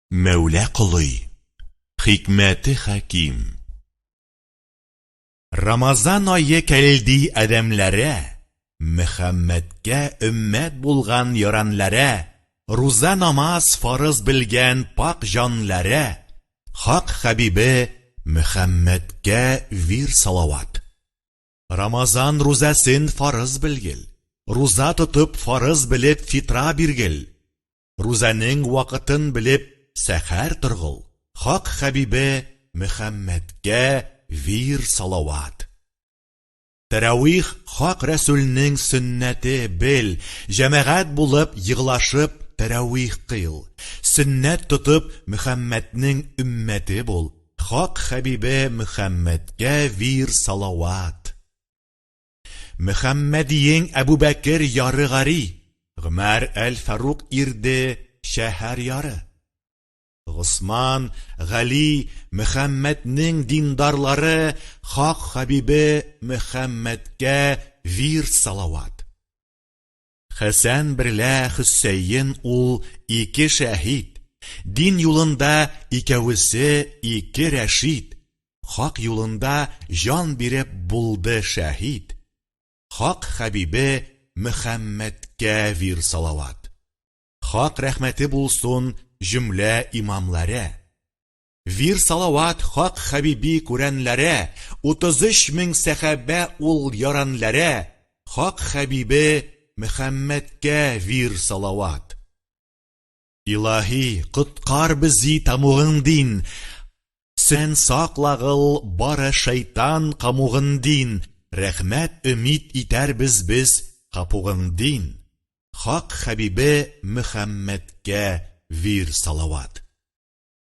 Мәүлә колый, хикмәте хәким. Рамазан ае кәлди адәмләрә, Мөхәммәдкә өммәт булган яранләрә, Руза намаз фарыз белгән пакь җанләрә, Хак хәбибе Мөхәммәдкә вир салават. Рамазан рузәсен фарыз белгел, Руза тотып фарыз белеп фитра биргел, рузаның вакытын белеп сәхәр торгыл, хак хәбибе Мөхәммәдкә вир салават. Тәрәвих хак рәсүлнең сөннәте бел, җәмәгать булып егылашып тәрәвих кыйл, сөннәт тотып Мөхәммәднең өммәте бул, хак хәбибе Мөхәммәдкә вир салават. Мөхәммәдиең Әбүбәкер яры гари, Гомәр әл-Фарук ирде шәһәр яры. Госман, Гали, Мөхәммәднең диндарлары Хак хәбибе Мөхәммәдкә вирд салават. Хәсән берлә Хөсәен ул ике шәһид, Дин юлында икәвесе ике рәшид, Хак юлында җан биреп булды шәһид, Хак хәбибе Мөхәммәдкә вир салават. Хак рәхмәте булсун җөмлә имамларә. Вир салават хак хәбиби күрәнләрә, 33 мең сәхәбә ул ярәнләрә, хак хәбибе Мөхәммәдкә вир салават. Илаһи, коткар бзи тамугын дин, Сен саклагыл бары шайтан камугын дин, Рәхмәт өмид итәрбез без капугың дин, Хак хәбибе Мөхәммәдкә вир салават.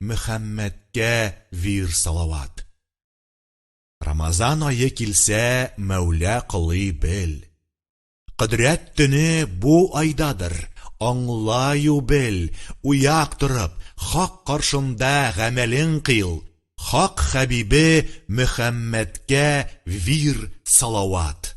Мөхәммәдкә вир салават. Рамазан ае килсә Мәүлә кылый бел. Кодрәт төне бу айдадыр, аңлаю бел, уяк торып, хак каршында гамәлең кыйл, хак хәбибе Мөхәммәдкә вир салават.